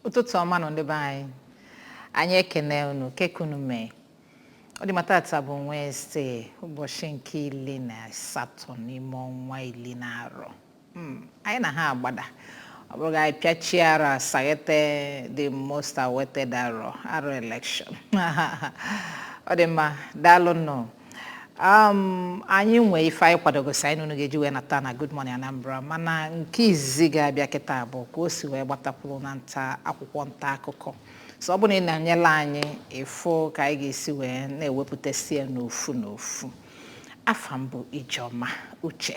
ụtụtụ ọma nụ ndị be anyị anyị ekene unu kee ka unu mee ọ dị mma taata bụ Wednesday ụbọchị nke iri na asatọ n'ime ọnwa iri n'arọ Hmm, anyị na ha agbada ọ bụrụ anyị pịachie arọ a saghete the most awaited arọ arọ election ọ dị mma daalụ nụ um, anyị nwee ife anyị kwadogosi anyị n'unu ga-eji wee nata na Good Morning Anambra mana nke izizi ga-abịa kịta bụ ka o si wee gbatakwụrụ na nta akwụkwọ nta akụkọ so ọ bụrụ na ị nọnyelụ anyị ị fụ ka anyị ga-esi wee na-ewepụtasị ya n'ofu n'ofu afa m bụ Ijeọma Uche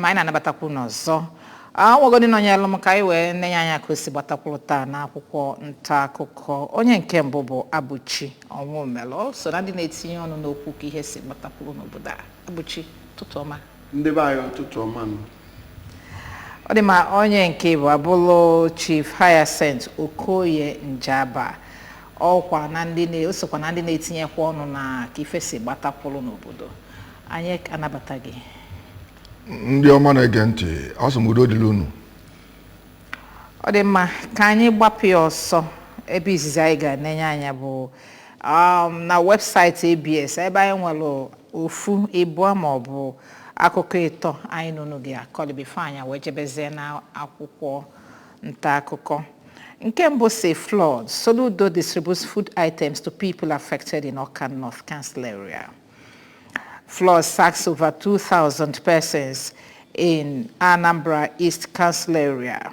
ma anyị na-anabatakwu unu ọzọ o nwego ndị nọnyelụ m ka anyị wee nenye anya ka o si gbatakwụrụ taa n'akwụkwọ nta akụkọ onye nke mbụ bụ Abụchi Ọnwụmelụ so na ndị na-etinye ọnụ n'okwu ka ihe si gbatakwụrụ n'obodo a Abụchi ụtụtụ ọma ndị be anyị ụtụtụ ọma nụ. ọ dị mma onye nke ịbụa bụlụ chief Hyacinth Okoye Njaba ọkwa na ndị na- o sokwa na ndị na-etinyekwa ọnụ na ka ife si gbatakwụrụ n'obodo anyị anabata gị ndị ọma na-ege ntị asị m udo dịrị unu ọ dị mma ka anyị gbapụ ya ọsọ ebe izizi anyị ga-enenye anya bụ um, na webụsaịtị ABS ebe anyị nwere ofu ịbụọ ma ọ bụ akụkọ ịtọ anyị na unu ga-akọlị before anyị ewee jebezie na akwụkwọ nta akụkọ nke mbụ sị flood Soludo distributes food items to people affected in Awka North Council area flood sacks over 2,000 persons in Anambra East Council area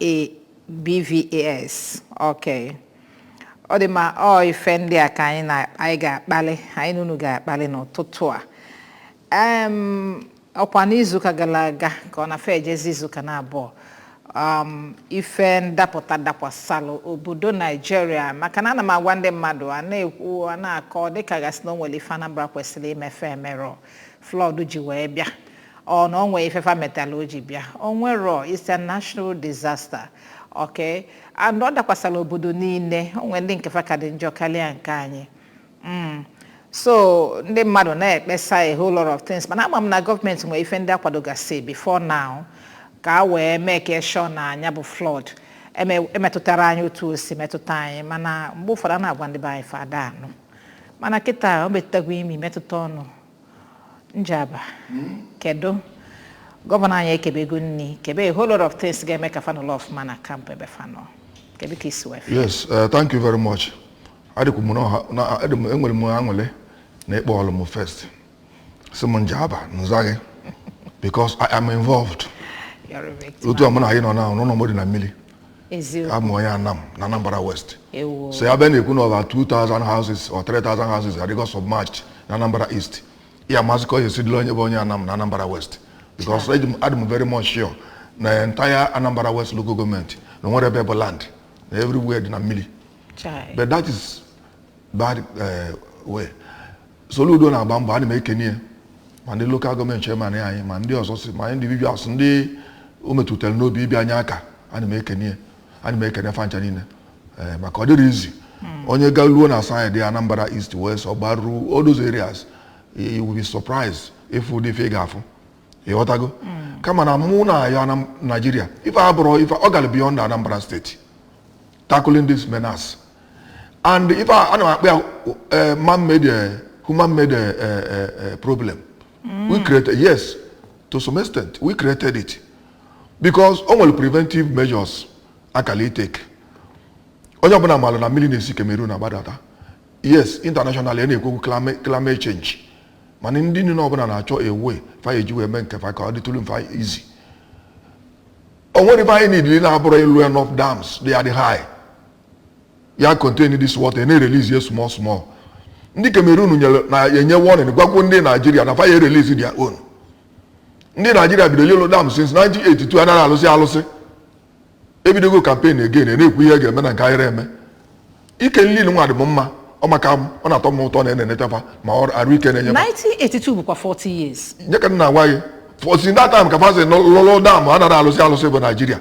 e BVAS okay ọ dị mma ọ ife ndị a ka anyị na anyị ga-akpali anyị na unu ga-akpali n'ụtụtụ a Em, ọkwa n'izuụka gara aga ka ọ na fe ejezi izuụka naabọ um, ife ndapụta dakwasalụ obodo naijiria maka na ana m agwa ndị mmadụ a na-ekwu a na-akọ dịka gasị na o nwere ife anambra kwesịrị ime fa emerọ Flood ji wee bịa. Ọ na o nwee ife fa metalụ o ji bịa. O nwerọ it's a national disaster. Okay. And ọ dakwasara obodo niile. O nwere ndị nke fa ka dị njọ karịa nke anyị. Mm. So ndị mmadụ na-ekpesa a whole lot of things mana ama m na gọọmenti nwere ife ndị a kwadogasị before now ka e wee make sure na nya bụ flood eme- emetụtarọ anyị otu o si metụta anyị mana mgbe ụfọdụ a na-agwa ndị be anyị fa ada anụ mana kịta o metụtago imi metụta ọnụ njaba kedu gọvanọ anyị ekebego nni kebe a whole lot of things ga-eme ka fa nọlọ ọfụma na kampụ ebe fa nọ kedu ka i si wee fụ ya? yes eh, thank you very much adịkwu m n'ọha- na- adị m- enwere m aṅụlị na ị kpọọlụ m first sị m njaba nzaghị because i am involved You're a victim. otu a mụ na anyị nọ na ụnọ m dị na mmili Eziokwu. abụ m onye anam na anambra west Ewo. so a bịa na-ekwu na over 2000 houses or 3000 houses adịgo submerged na anambra east ị ya-amazị ka ọ ya-esi dịlị onye bụ onye anam na anambra west because eji m- adị m very much sure na entire anambra west local gọọmenti na o nwerọ ebe bụ land na everywhere dị na mmili Chai. but that is by the way Soludo na-agba mbọ ana m ekene ya ma ndị lokal gọọmenti chairman anyị ma ndị ọzọ si ma individuals ndị o metụtara n'obi ịbịa nye aka ana m ekene ya ana m ekene fa ncha niine ee maka ọ dịrọ easy onye galuo na side Anambra East West Ogbaru all those areas you will be surprised ịfụ ụdị ife ị ga-afụ ịghọtago kama na mụ na-ayọ Naijiria ife a bụrụ ife ọ gara beyond Anambra steeti tackling this menace and ife a ana m akpọ ya eh, man made eh, human made eh, eh, eh, eh, problem we created yes to some extent we created it because o nwere preventive measures a kala itake onye ọbụla malụ na mmili na-esi Cameroon agbadata yes internationally a na-ekwu okwu climate- climate change mana ndị niile ọbụla na-achọ a way fa eji wee mee nke fa ka ọ dịtụrụ fa easy o nwere ife anyị needili na-abụrụ ịlụ enough dams dị adị high ya contain this water na-erelease ya small small ndị Cameroon enye warning gwagwo ndị Naijiria na fa ya-erelease their own ndị Naijiria bidoro ịlụ dam since 1982 anaghị alụsị alụsị ebidogo campaign again na-ekwu ihe a ga-eme na nke a yarọ eme ike nri nwa dị m mma ọ maka m ọ na-atọ m ụtọ na a na-eneta fa ma ọ arụ ike na-enye m 1982 bụkwa 40 years nya ka m na-agwa gị since that time ka fa si lụlụ dam a narọ alụsị alụsị bụ naijiria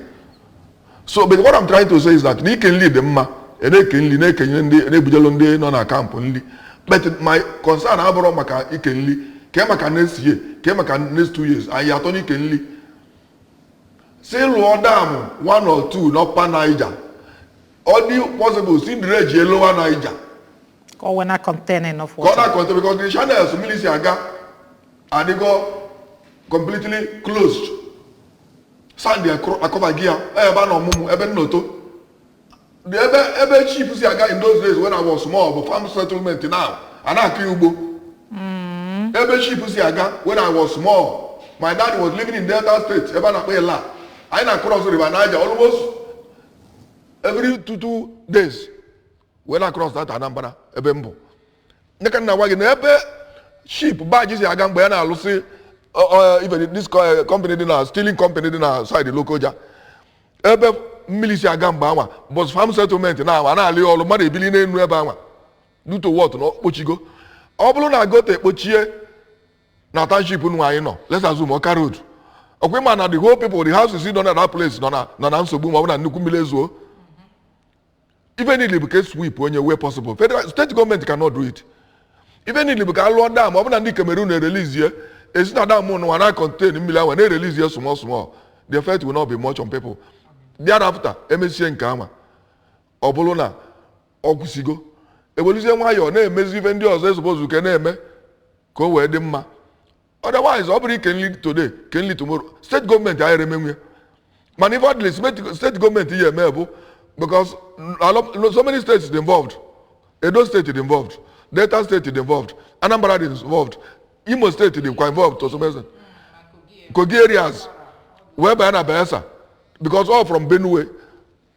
so but what I'm trying to say is that na ike nri dị mma a na-eke nri na-ekenye ndị na-ebujelu ndị nọ na kampụ nri but my concern abụrụ maka ike nri kee maka next year kee maka next two years anyị atọ n'ike nri sị lụọ dam one or two n'Upper Niger ọ dị possible sị dredge Lower Niger ka ọ wee na contain enough water ka ọ na contain because the channels mmiri si aga adịgo completely closed sand akọbago ya ebe a na ọmụmụ ebe nnoto The ebe ebe ship si aga in those days when I was small bụ farm settlement now a na-akọ ya ugbo ebe ship si aga when I was small my dad was living in Delta State ebe a na-akpọ Illah anyị na-across River Niger almost every two two days wee na cross that anambra ebe mbụ ya ka m na-agwa gị na ebe ship barge si aga mgbe ya na-alụsị ọ- ọ- ife dị- this co- eh, company dị na stealing company dị na side lokoja ebe mmiri si aga mgbe anwa but farm settlement na anwa na-alị ya ọrụ mmadụ ebili n'enu ebe anwa due to what na okpochigo ọ bụrụ na gutter ekpochie na township nụ anyị nọ let's assume ọka road ọkwa ịma na the whole people the houses nọ na that place nọ na nọ na nsogbu ma ọ bụ na nnukwu mmiri ezuo ife niile bụ ka e sweep onye wee possible federal state government cannot do it ife niile bụ ka alụọ dam ọ bụ na ndị Cameroon ereleasie e si na dam nwa na contain mmiri ahụ na-erelease ya small small the effect will not be much on people thereafter emesie nke ama ọ bụrụ na ọ kwụsịgo eweluzie nwayọọ na-emezi ife ndị ọzọ e suppose ka e na-eme ka o wee dị mma otherwise ọ bụrụ ike nri today ke nri tomorrow state government anyị emenwu ya mana ife ọdịlị state government ya eme bụ because so many states dị involved edo state dị involved delta state dị involved anambra dị involved imo state dị kwa involved to some extent kogi areas wee banye na bayelsa because all from benue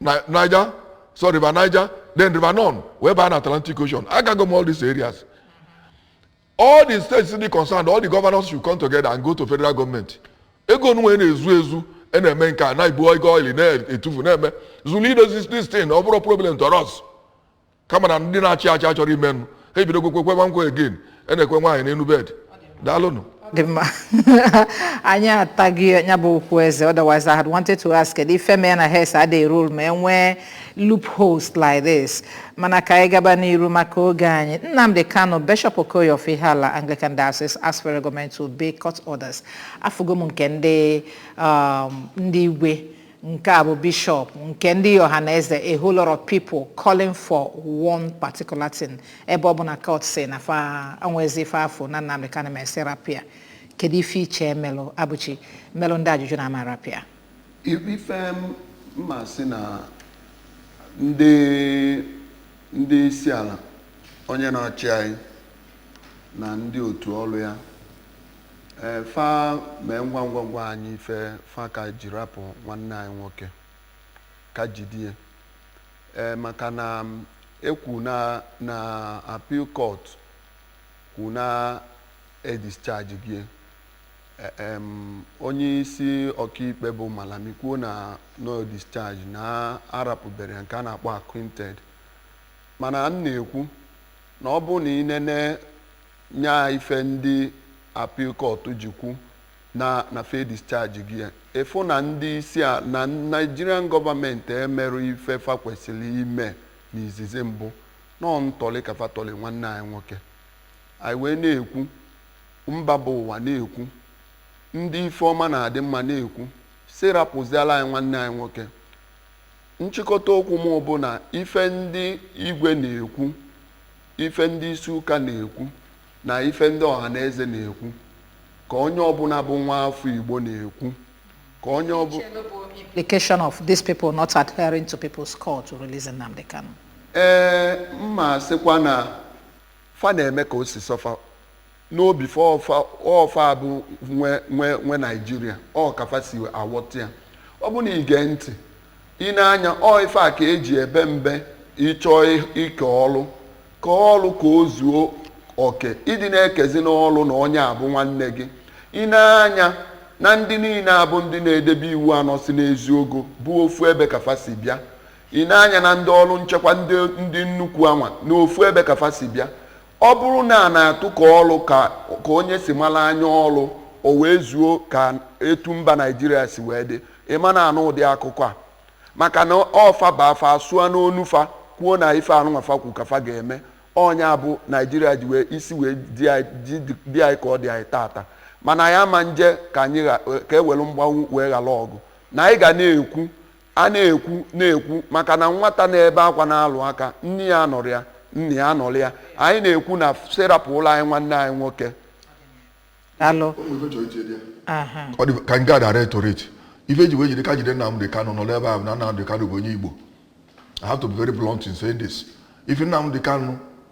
Ni- niger so river niger then river nun wee baa na atlantic ocean agago m all these areas all the states dị concerned all the governors should come together and go to federal government ego nwa a na-ezu ezu a na-eme nke a na-ebu ego oil na-etufu na-eme zuru idozi this thing ọ bụrọ problem to us kama na ndị na-achị achị achọrọ ime nụ ha ebido kwekwe nwa nkwa again a na-ekwe nwaanyị n'enu bed daalụnụ dị mma anyị ataghị ya bụ okwu eze otherwise i had wanted to ask kedu ife mee na heads adịghị roll ma e nwee loopholes like this mana ka anyị gaba n'iru maka oge anyị nnamdi kanu bishop okoye of ihiala anglican diocese asked for government to obey court orders afụgo m nke ndị um, ndị igwe Nke a bụ bishop nke ndị Ohanaeze a whole lot of people calling for one particular thing ebe ọ bụ na court sị na fa anwezi ife fa fụ na Nnamdi Kanu ma e sị rapịa kedu ife i chee melụ abụchi melụ ndị a ji jụ na a ma rapịa ife m ma sị na ndị ndị isi ala onye na-achị anyị na ndị otu ọrụ ya E, fa mee ngwa ngwa gwa anyị ife fa ka ji rapụ nwanne anyị nwoke ka jidie e, maka na ekwu na na appeal court kwu na edischarge gie e, em, onye isi ọkaikpe bụ Malami kwuo na na ọ discharge na arapụbere ya nke a na-akpọ acquitted mana m na-ekwu na ọ bụ na i nene Nya ife ndị Appeal Court ji kwu na fa edischargego ya. Ị fụ na ndị isi na Nigerian Government emerọ ife fa kwesịrị ime n'izizi mbụ. Na ọ ntọlị ka fa tọlị nwanne anyị nwoke. Anyị wee na-ekwu, mba bụ ụwa na-ekwu, ndị ife ọma na-adị mma na-ekwu sị rapụzịara anyị nwanne anyị nwoke. Nchịkọta okwu mụ bụ na ife ndị Igwe na-ekwu, ife ndị isi ụka na-ekwu na ife ndị Ọhaneze na-ekwu ka onye ọbụla bụ nwa afọ Igbo na-ekwu ka onye ọbụla implication of these people not adhering to people's call to release Nnamdi Kanu. ee m ma asịkwa na fa na-eme ka o si sọ fa n'obi fa ọ fa bụ nwe Naijiria ọ ka fa si awọta ya ọ bụ na i gee ntị i nee anya ọ ife a ka e ji ebe mbe ị chọọ ike ọlụ ka ọlụ ka o zuo oke ị dị na-ekezi n'ọlụ na onye a bụ nwanne gị i nee anya na ndị niile a bụ ndị na-edebe iwu a nọ si n'eziogo bụ ofu ebe ka fa si bịa i nee anya na ndị ọrụ nchekwa ndị nnukwu anwa na ofu ebe ka fa si bịa Ọ bụrụ na a na-atụkọ ọrụ ka onye si mara anya ọrụ o wee zuo ka etu mba Naijiria si wee dị, ị ma na-anụ ụdị akụkọ a maka na ọ fa baa fa asụa n'onu fa kwuo na ife anụnwa fa kwu ka fa ga-eme. Ọ nya bụ Naijiria ji wee isi wee dị anyị ka ọ dị anyị taata. Mana anyị ama nje ka anyị gha ka e were mgbanwu wee ghara ọgụ. Na anyị ga na-ekwu a na-ekwu na-ekwu maka na nwata na-ebe akwa na-alụ aka nne ya anọrọ ya nna ya anọrọ ya anyị na-ekwu na sị rapụlụ anyị nwanne anyị nwoke alụ aha ọ dị ka m gaa direct ife e ji wee jide ka jide Nnamdi Kanu nọ n'ebe ahụ na Nnamdi Kanu bụ onye Igbo I have to be very blunt in saying this if Nnamdi Kanu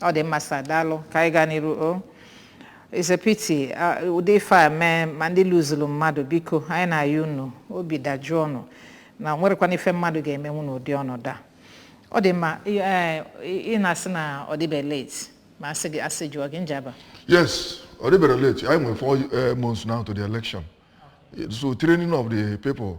ọ dị mma sa daalụ ka anyị gaa n'iru o It's a pity ah, ụdị ife a mee ma ndị loseru mmadụ biko anyị na-ayị unu obi dajụọ unu na o nwerọkwanụ ife mmadụ ga-emenwu n'ụdị ọnọdụ a ọ dị mma ị- eh, ị ị na-asị na ọ dịbe late ma a sị jụọ gị Njaba Yes, ọ dịberọ late. Anyị nwere four eh, months now to the election. So training of the people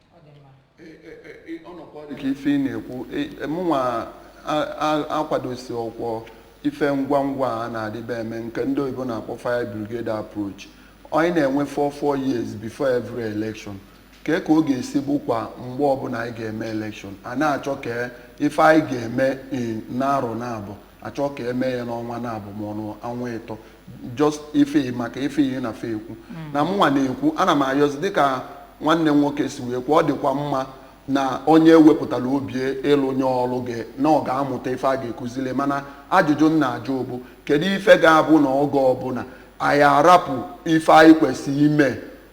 ka ife ị na-ekwu mụnwa akwadosirọkwọ ife ngwa ngwa a na-adịbe eme nke ndị oyibo na-akpọ fire brigade approach anyị na-enwe 4-4 years before every election kee ka ọ ga-esi bụkwa mgbe ọbụla anyị ga-eme election a na-achọ ka ife anyị ga-eme n'arọ naabọ a chọọ ka e mee ya n'ọnwa naabọ ma ọ bụ ọnwa ịtọ just ife maka ife ihe na fe ekwu mm. na mụnwa na-ekwu ana m ayọzi dịka nwanne nwoke si wee kwuo ọ dịkwa mma na onye wepụtara obi ịlụnye ọlụ gị na ọ ga-amụta ife a ga-ekuzili mana ajụjụ m na-ajụ bụ kedu ife ga-abụ na oge ọbụla anyị arapụ ife anyị kwesịrị ime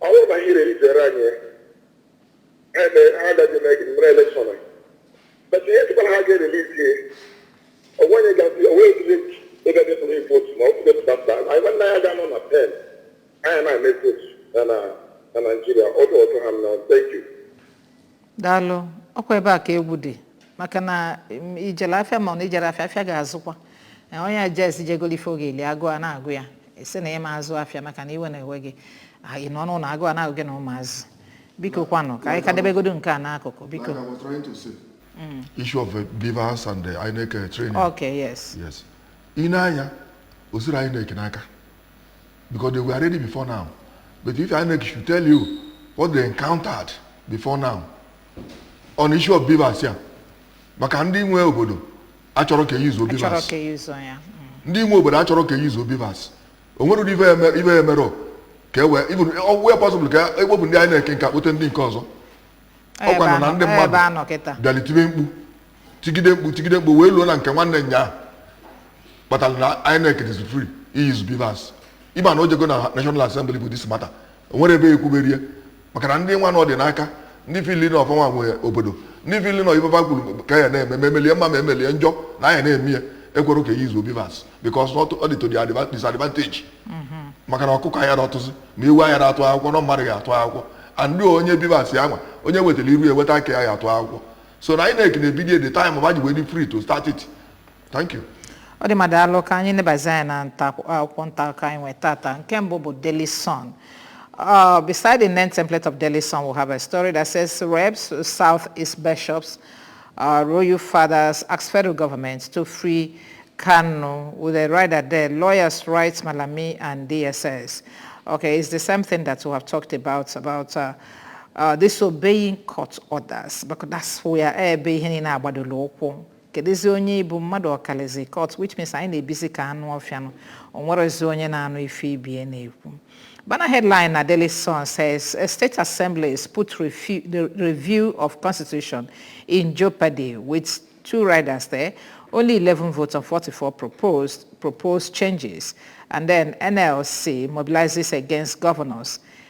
Ọ bụrụ na ihe izere anyị ha agaghị eme gị mere elekshọn a but ihe tụkwara ha ga-erelizi ihe onwenye gazi onwe ezigbo ebe dị tụrụ votu ma ọ kwụdo pụtapụta anyị nwanne ya ga-anọ na pen anyị na-eme votu na Naịjirịa ọdụ ọdụ ha na thank you daalụ ọkwa ebe a ka egwu dị maka na i jele afịa ma na i jerọ afịa afịa ga-azụkwa Eh, onye jesi je golu ife ọ ga-eli agụụ a na-agụ ya ị sị na ị ma-azụ afịa maka na iwe na-ewe gị Ah, ị nọ n'ụnọ agụụ a na-agụ gị na ụmụazị biko kwanụ ka anyị ka debegodo nke a n'akụkụ biko Like I was trying to say, issue of uh, BVAS and uh, INEC uh, training. okay yes Yes. Ị na-anụ ya, o siri INEC n'aka. because they were ready before now. But if INEC should tell you what they encountered before now on issue of BVAS ya maka ndị nwe obodo achọrọ ka e use BVAS achọrọ ka e use ya Mm. ndị nwe obodo achọrọ ka e use BVAS o nwere ụdị ife ya eme- ife ya emerọ ka e wee even ọ wee possible ka e kpopụ ndị INEC nke a kpote ndị nke ọzọ Ọ ọkwa ebe nọ na anọ- ndị ọ ebe mmadụ anọ kịta bịalị tibe mkpu tigide mkpu tigide mkpu wee luo na nke nwa na nya ahụ kpatara na INEC is free ị use BVAS ị ma na o jego na national assembly bụ this matter o nwere ebe e kwubere ya maka na ndị nwa na ọ dị n'aka ndị feel na ọ fanwa nwe obodo ndị feel na ife fa kwuru ka ya na-eme ma emelie mma ma emelie njọ na anya na-eme ya ekwerọ ka e use BVAS because ọ dị to the adva- disadvantage maka na ọkụkọ anya na-atụzi ma ewu anya na-atụ akwụkwọ na mmadụ ga-atụ akwụkwọ and onye BVAS ya nwa onye wetara iru ya weta aka ya ya atụ akwụkwọ so na INEC na-ebido the time ma ji wee dị free to start it thank you ọ dị mma daalụ ka anyị nebazi anya na akwụkwọ nta akụkọ anyị nwee taata nke mbụ bụ Daily Sun Uh, beside the name template of Daily Sun, we have a story that says reps, Southeast bishops, uh, royal fathers ask federal government to free Kanu with a rider there, lawyers write Malami, and DSS. Okay, it's the same thing that we have talked about, about uh, uh, disobeying court orders because that's where ebe ihe niile agbadola ụkwụ kedụzi onye ị bụ mmadụ ọ kalizi court which means anyị na-ebizi ka anụ ọfịa nụ o nwerezi onye na-anụ ife ibe ya na-ekwu Banner headline na Daily Sun says state assemblies put refu- the review of constitution in jeopardy with two riders there only 11 votes on 44 proposed proposed changes and then NLC mobilizes against governors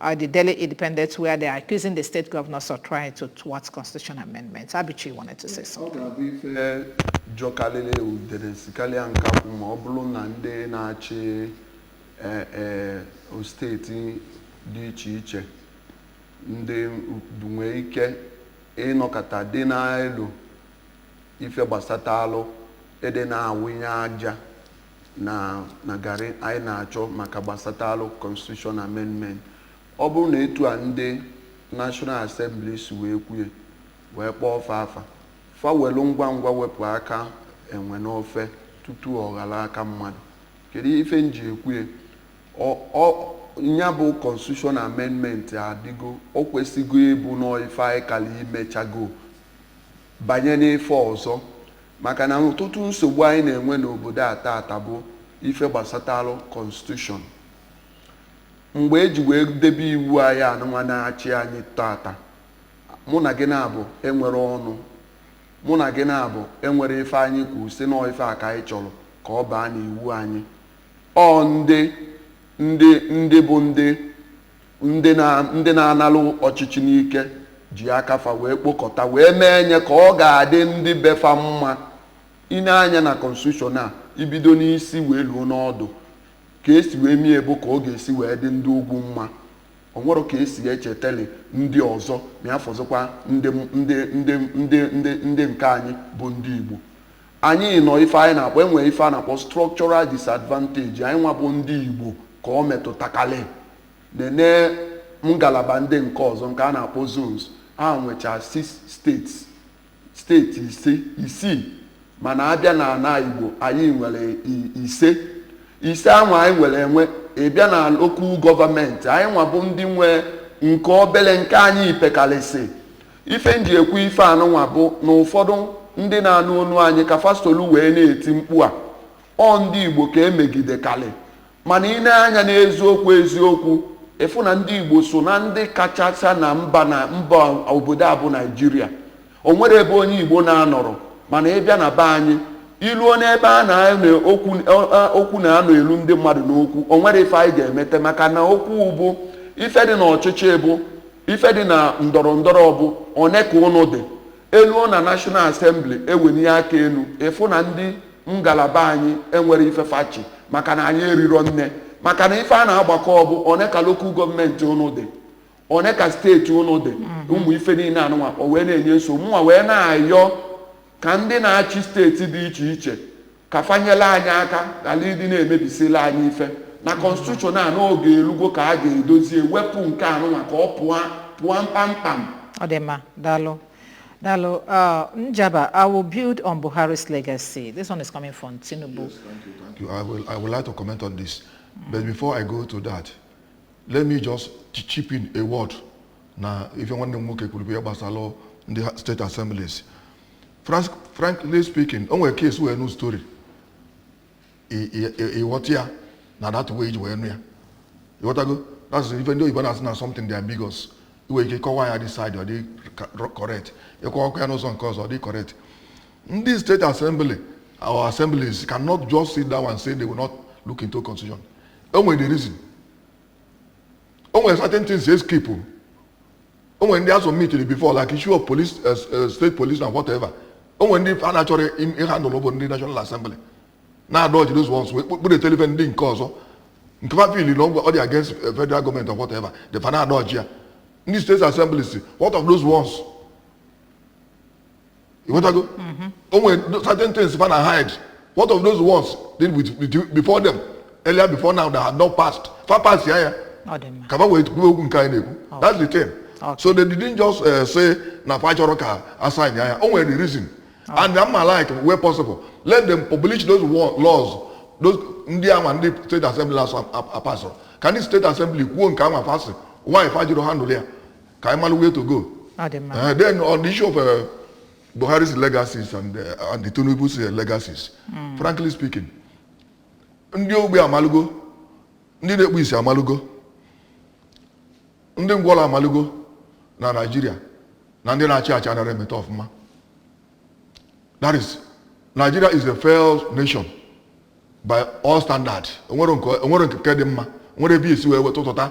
Uh, the Daily Independent, where they are accusing the state governors of trying to thwart constitution amendments. Abichi wanted to say something. Eh, eh, ọ bụ ife jọkalịlị udene sikalịa nkakwụ ma ọ bụlụ na ndị na-achị steeti dị iche iche ndị nwee ike ịnọkọta dị na-elo ife gbasatalụ ịdị na-awụnye aja na na garị anyị na-achọ maka gbasatalụ constitution amendment ọ bụrụ na etu a ndị national assembly si wee kwue wee kpọọ fa afa fa welu ngwa ngwa wepụ aka enwe n'ofe tutu ọ ghọlụ aka mmadụ kedu ife m ji ekwue nya bụ constitution amendment adịgo o kwesịgo ịbụ n'ife anyị kara imechago banye n'ife ọzọ Maka na ọtụtụ nsogbu anyị na-enwe n'obodo a taata bụ ife gbasatalụ Constitution. Mgbe e ji wee debe iwu anyị anụnwa na-achị anyị taata, mụ na gị naabọ enwerọ ọnụ. Mụ na gị naabọ enwerọ ife anyị kwuru sị nọọ ife a ka anyị chọrọ ka ọ baa n'iwu anyị. Ọ ndị ndị ndị bụ ndị ndị na-analụ ọchịchị n'ike ji aka fa wee kpokọta wee mee nye ka ọ ga-adị ndị befa mma i nee anya na konstitushọn a i bido n'isi wee luo n'ọdụ ka e si wee mie bụ ka ọ ga-esi wee dị ndị ugwu mma o nwerọ ka e si echeteli ndị ọzọ ma ya fọzịkwa ndị nke anyị bụ ndị Igbo Anyị nọ ife anyị na-akpọ enwe ife a na-akpọ structural disadvantage anyị nwa bụ ndị Igbo ka ọ metụtakalị nene ngalaba ndị nke ọzọ nke a na-akpọ zones ha nwecha six states steeti ise isii mana a bịa na ana Igbo anyị nwere i- ise ise anwa anyị nwere enwe ị bịa na lokal gọọmenti anyị nwa bụ ndị nwe nke obele nke anyị pekalịsị ife m ji ekwu ife anụnwa bụ na ụfọdụ ndị na-anụ onu anyị ka fa solu wee na-eti mkpu a ọ ndị igbo ka e megidekalị mana i nee anya n'eziokwu eziokwu ị fụ na ndị igbo so na ndị kachacha na mba obodo a bụ naijiria o nwerọ ebe onye igbo na-anọrọ mana ị bịa na be anyị i luo n'ebe a na-anọ okwu okwu na-anọ elu ndị mmadụ n'okwu o nwerọ ife anyị ga-emete maka na okwu bụ ife dị n'ọchịchị bụ ife dị na ndọrọ ndọrọ bụ one ka ụnụ dị e luo na National Assembly e wenie aka enu ị fụ na ndị ngalaba anyị enwerọ ife fa chị maka na anyị erirọ nne maka na ife a na-agbakọ bụ one ka lokal gọọmenti ụnụ dị one ka steeti ụnụ dị ụmụ ife niile anụnwa o wee na-enye nsogbu mụnwa wee na-ayọ ka ndị na-achị steeti dị iche iche ka fa nyela anyị aka ghara ịdị na-emebisila anyị ife na kọnstitushọn a n'oge elugo ka a ga-edozie wepụ nke a nụnwa ka ọ pụọ pụọ kpamkpam ọ dị mma daalụ daalụ uh, njaba i will build on buhari's legacy this one is coming from tinubu yes, thank you, thank you. I, will, I would like to comment on this but before i go to that let me just chip in a word na ife nwanne m nwoke kwuru bụ ya gbasara ndị steeti assemblies frankly speaking o nwere ka e si wee nụ story ị ghọta ya na that way i ji wee nụ ya ị ghọtago that's ife ndị oyibo na-asị na something dị ambiguous i nwee ike kọwaa ya this side ọ dị correct ị kọwakwa ya n'ụzọ nke ọzọ ọ dị correct ndị state assembly our assemblies cannot just sit down and say they will not look into constitution o nwere the reason o nwere certain things they skip o nwere ndị a submitiri before like issue of police eh, s- eh, state police na whatever o nwere ndị fa na-achọrọ im- ịhandle bụ ndị national assembly na-adodge those ones kpọrọ wetelụ fa ndị nke ọzọ nke fa feel na ọ dị against eh, federal government or whatever the fa na-adodge ya ndị state assemblies what of those ones ị ghọtago mm-hmm. o nwere certain things fa na hide what of those ones dị with, with before them earlier before now that had not passed fa pass ya ya ka fa wee kwuo okwu nke anyị na-ekwu that's the thing so they didn't just uh, say na fa achọrọ ka a sign ya ya o nwere the reason and na m ma like where possible let them publish those laws those ndị ama ndị state assembly asọ apasịrị ka ndị state assembly kwuo nke a ma pass why fa jụrụ ịhandle ya ka anyị mara where to go ọ dị mma Eh, then on the issue of uh, Buhari's legacies and, uh, and the Tinubu's uh, legacies, frankly speaking, ndị ogbi amalugo, ndị na-ekpu isi amalugo, ndị ngwọrọ amalugo na Nigeria na ndị na-achị achị anaghị emeta ọfụma. That is, Nigeria is a failed nation by all standard. E nwerọ nke e nwerọ nke dị mma, nwere ebe i si wee weta ụtụta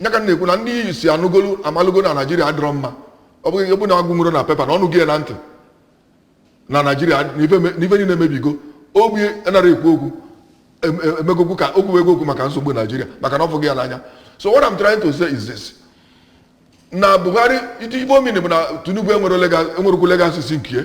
nya ka m na-ekwu na ndị isi anụgolu amalugo na naijiria adịrọ mma ọ bụrụ na agụnwurọ na pepa na ọ nụgo ya na ntị na naijiria n'ife niile emebigo ogbi anarọ ekwu okwu emegokwu ka o kwugo okwu maka nsogbu naijiria maka na ọ fụgo ya n'anya so what I'm trying to say is this na Buhari iti ife ọ mean bụ na Tinubu enwerọkwu legacies nke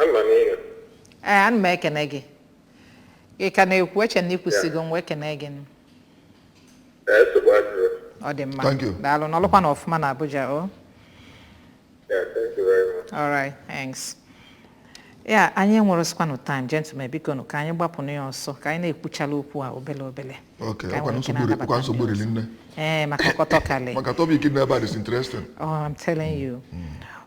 Ama m ihe. ee ana m ekene gị ị ka na-ekwu eche m na ị kwụsịgo m wee kene gị Ee, nsogbu adịrọ. ọ dị mma Thank you. daalụ nọlụkwanụ ọfụma na abuja o Yeah, thank you very much. all right thanks yeah anyị enwerọzikwanụ time gentlemen bikonụ ka anyị gbapụnụ ya ọsọ ka anyị na-ekwuchala okwu a obele obele Ok, Ka ọkwa nwere ike nsogbu na-anabata ọkwa nsogbu ndị riri nne. ee maka ọkọtọkali Maka topic dị n'ebe a is interesting. Oh, I'm telling you.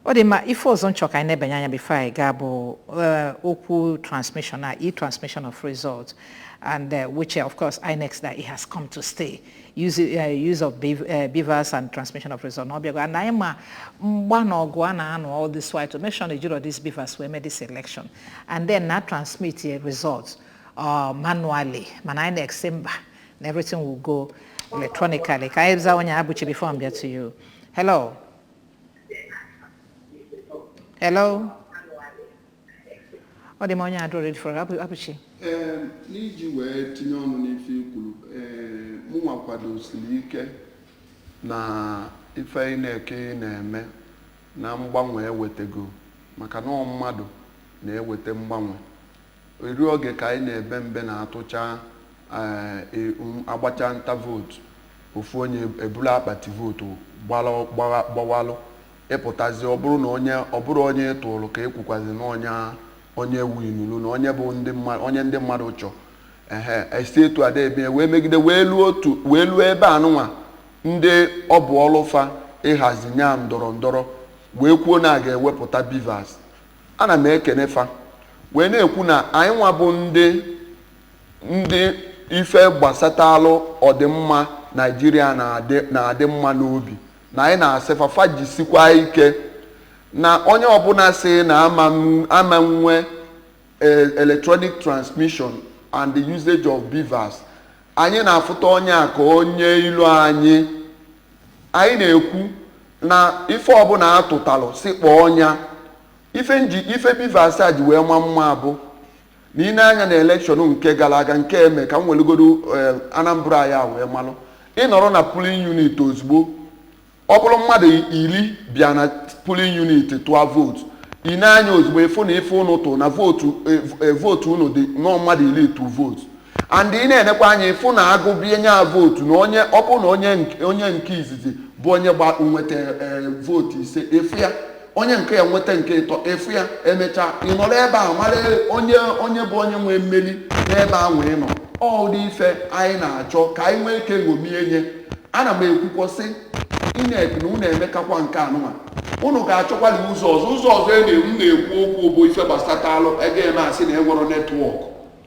ọ dị mma ife ọzọ m chọ ka anyị nebanye anya before anyị gaa bụ eh, okwu transmission na e-transmission of results and eh, which eh, of course INEC that it has come to stay use, eh, use of bev- eh, BVAS and transmission of results na ọ bịago and anyị ma mgba na ọgụ a na-anụ all this while to make sure na ejirọ this BVAS wee mee this election and then na transmit eh, results uh, manually mana INEC sị mba na everything will go electronically ka anyị za onye a Abụchi before m bịa to you hello hello ọ dị m onye a adịrọ ready for Abụ- Abụchi Ee, n'iji wee tinye ọnụ n'ife i kwuru ee mụnwa kwadosiri ike na ife INEC na-eme na mgbanwe ewetego maka na ọ mmadụ na-eweta mgbanwe Eri oge ka anyị na-ebe mbe na atụcha eh, e, um, agbacha nta vootu ofu onye eburu akpati vootu gbawalụ ị pụtazi ọ bụrụ na onye ọ bụrọ onye ị tụrụ ka ekwukwazi na onye onye winuru na onye bụ ndị mmadụ onye ndị mmadụ chọ ehe esi etu a da ebe wee megide wee luo otu wee luo ebe anụnwa ndị ọ bụ ọlụ fa ịhazi nya ndọrọ ndọrọ wee kwuo na a ga-ewepụta BVAS Ana m ekene fa wee na-ekwu na anyị nwa bụ ndị ndị ife gbasatalụ ọdịmma Naịjirịa na-adị na-adị mma n'obi na anyị na-asị fa fa jisikwa ike na onye ọbụla sị na a ma m- a ma nwe eh, electronic transmission and the usage of BVAS anyị na-afụta onye a ka onye ilo anyị anyị na-ekwu na ife ọbụla a tụtalụ sị kpọọ nya ife m ji ife BVAS a ji wee ma mma bụ na ị ne anya na elekshọn nke gara aga nke eme ka m welugodo eh, Anambra ya wee malụ ị nọrọ na polling unit ozugbo ọ bụrụ mmadụ iri bịa na polling unit tụọ vootu ị ne anya ozugbo ị fụ na ife unu tụ na vootu eh, eh, vootu unu dị nọọ mmadụ iri tụ vootu and ị na-enekwa anya ị fụ na agụbie nya vootu na onye ọ bụ na onye nke izizi bụ onye gba nweta eh, vootu ise ị fụ ya onye nke a nweta nke ịtọ ị fụ ya emechaa ị nọrọ ebe a mara onye onye bụ onye nwee mmeri n'ebe anwa ị nọ ụdị ife anyị na-achọ ka anyị nwee ike ṅomie nya ana m ekwukwa sị INEC na unu emekakwa nke anụnwa unu ga-achọkwali ụzọ ọzọ ụzọ ọzọ m na-ekwu okwu bụ ife gbasatalụ a ga-eme asị na enwerọ network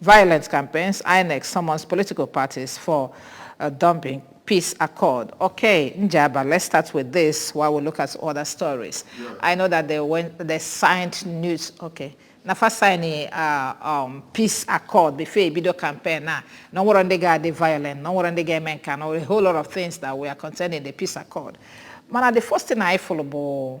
Violent campaigns, INEC summons political parties for uh, dumping peace accord. Okay, Njaba, let's start with this while we look at other stories. Yeah. I know that they went, they signed news. Okay. na fa sign uh, um, peace accord before e bido campaign na na o nwerọ ndị ga-adị violent na o nwerọ ndị ga-eme nke a na a whole lot of things that were contained in the peace accord mana the first thing anyị fụrụ bụ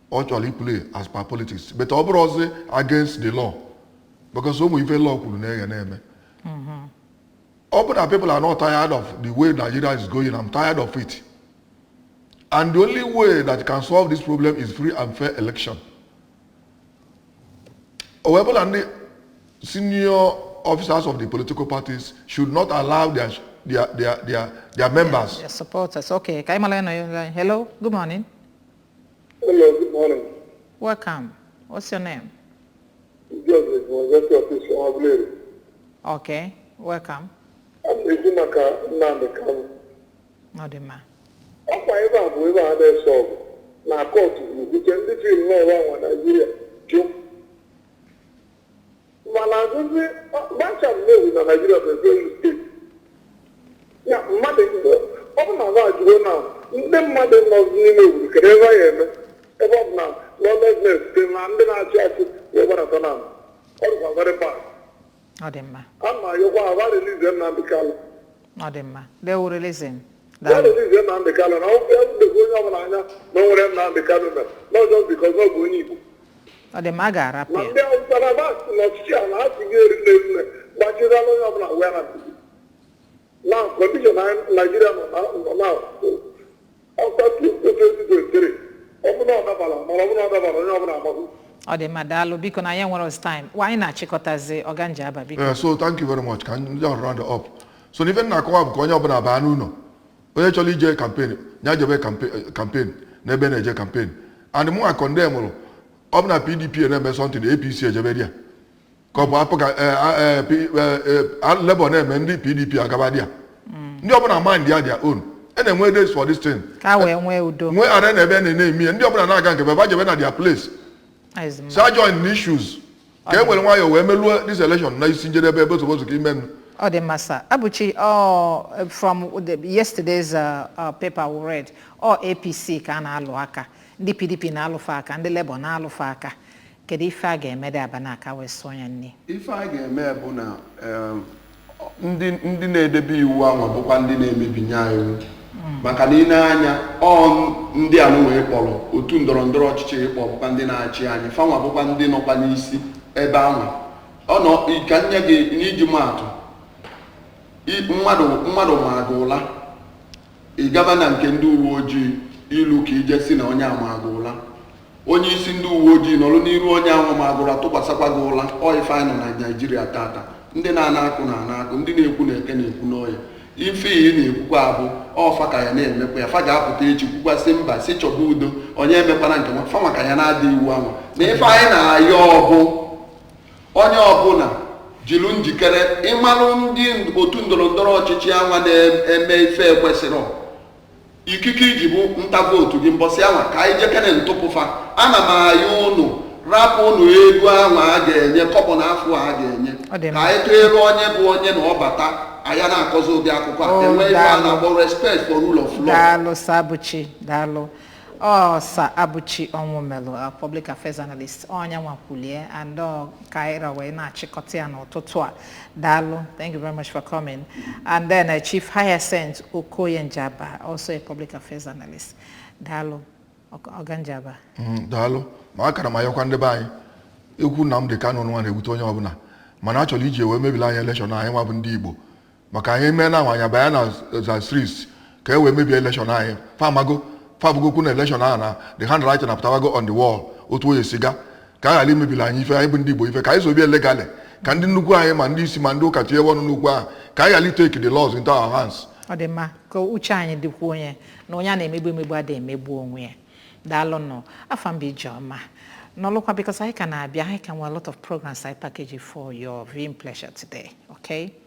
ọ chọrọ iplay as per politics but ọ bụrụ ọzọ against the law because ụmụ ife law kwuru na eghe na-eme ọ bụ na people are not tired of the way Nigeria is going I'm tired of it and the only way that can solve this problem is free and fair election o wee bụla ndị senior officers of the political parties should not allow their their their their, their members their supporters. Okay, ka anyị mara onye nọ ya. Hello, good morning. Hello, good morning. Welcome. What's your name? Joseph Mozeti si Agụleri. Okay, welcome. Ana m ekwu maka Nnamdị Kanụ. Ọ dị mma. Ọkwa ebe a bụ ebe a na-ese ọgụ na kọtụ ebute ndị fim n'ọrụ anwa Naijiria jụ mana azụzi gbacha mmewu na naijiria bụ ezeghị steeti ya mmadụ ọ bụ na ha ajụgo na ndị mmadụ nọzi n'ime obodo kedu ife a ya-eme ebe ọ bụ na lawlessness dị na ndị na-achị achị wee gbarata na ọ dịkwa very bad ọ dị mma ana m ayọkwa ha release nnamdị kanụ ọ dị mma they will release him release Nnamdị Kanụ na o dogo onye ọbụla anya na o nwerọ ife Nnamdị Kanụ mere na ọ just because na ọ bụ onye Igbo ọ dị mma a ga-arapụ ma ya ndị Awụsa na Basị na ọchịchị a na ha si gị eri n'eri na gbachirala onye ọbụla wee na na condition Naijiria nọ na nọ na ọ dị mma daalụ biko na anyị enwerọzi time anyị na-achịkọtazi ọga Njaba biko Yeah, so thank you very much ka anyị just round up so n'ife m na-akọwa bụ ka onye ọbụla baa n'ụlọ onye chọrọ ije campaign ya jebe kampe- campaign n'ebe a na-eje campaign and mụ acondemnụrụ ọ bụ na pdp na-eme something apc ejebe there ka ọ bụ APGA eh, ah, eh, P- eh, eh, ah, Labour na-eme ndị PDP agaba there ndị ọbụla mindịa their own a na-enwe days for this thing ka e wee nwee udo nwee ara na ebe a na-eme ihe ndị ọbụla na-aga nke fa fa jebe na their place Ọ dị mma. fa ejoinna issues ka e were nwayọọ wee meluo this election na isi njedebe ebe otobozu ka ime nụ Ọ dị mma sir. Abuchi, oh, from the, yesterday's uh, uh, paper we read, ọ APC ka a na-alụ aka, ndị PDP na-alụfe aka, ndị Labour na-alụfe aka. Kedu ife a ga-eme dị aba na-aka wee sụọ ya nri? Ife a ga-eme bụ na em, ndị ndị na-edebe iwu ahụ bụkwa ndị na-emebinye anyị iwu. maka na i nee anya ọ ndị anụnwa ị kpọrọ otu ndọrọ ndọrọ ọchịchị ị kpọ bụkwa ndị na-achị anyị fanwa bụkwa ndị nọkwa n'isi ebe ahụ ọ nọ ka m nye gị n'iji maa atụ i- mmadụ mmadụ maa gị ụla ị gaba na nke ndị uwe ojii i lu ka i je sị na onye a maa gị ụla onye isi ndị uwe ojii nọrụ n'iru onye ahụ ma gị ụla tụkwasịkwa gị ụla ọ ife anyị nọ na naijiria tata ndị na-ana akụ na-ana akụ ndị na-ekwu na eke na-ekwu n'oye ife iyi na-ekwukwa abụ ọ fa ka ya na-emekwa ya fa ga-apụta echi kwukwa sị mba sị chọba udo onye emekwana nke a fanwa ka ya na-ada iwu ahụ na ife anyị na-ayọ ọbụ onye ọbụla jilu njikere ịmalụ ndị otu ndọrọ ndọrọ ọchịchị anwa na-eme ife ekwesịrị ikike i ji bụ nta vootu gị mbọsị anwa ka anyị jekene tụpụ fa ana m ayọ ụnụ rapụ ụnụ ego ahụ a ga-enye kọbọ na afụ a ga-enye ka anyị tụere onye bụ onye na ọ bata anyị ana-akọzi ụdị akụkọ a oh, e nwee ife a na-akpọ respect for rule of law daalụ Ọsabụchi daalụ Ọsabụchi Ọnwụmelụ a public affairs analyst ọnya nwakwulie and ọ ka anyị ra wee na-achịkọta ya n'ụtụtụ a daalụ thank you very much for coming and then uh, chief hyacinth okoye njaba also a public affairs analyst daalụ Ọk- ọga njaba Mm, daalụ ma a ka na m ayọkwa ndị be anyị okwu Nnamdi Kanu nụnwa na-ewute onye ọbụla mana achọrọ iji wee mebili anyị elekshọn anyị nwa bụ ndị Igbo maka anyị mee na awa anya banye na streets ka e wee mebie elekshọn anyị famago fabugo okwu na elekshọn ahụ na the handwriting apụtawago on the wall otu onye siga ka a ghara imebili anyị ife anyị bụ ndị igbo ife ka anyị sobie legally ka ndị nnukwu anyị ma ndị isi ma ndị ụka tinye ọnụ n'okwu ahụ ka anyị ghara itake the laws into our hands ọ dị mma ka uche anyị dịkwuo ya na onye a na-emegbu emegbu adịghị emegbu onwe ya daalụnụ afa m bụ ijeọma nọlụkwa because anyị ka na-abịa anyị ka nwere a lot of programs anyị package for your viewing pleasure today okay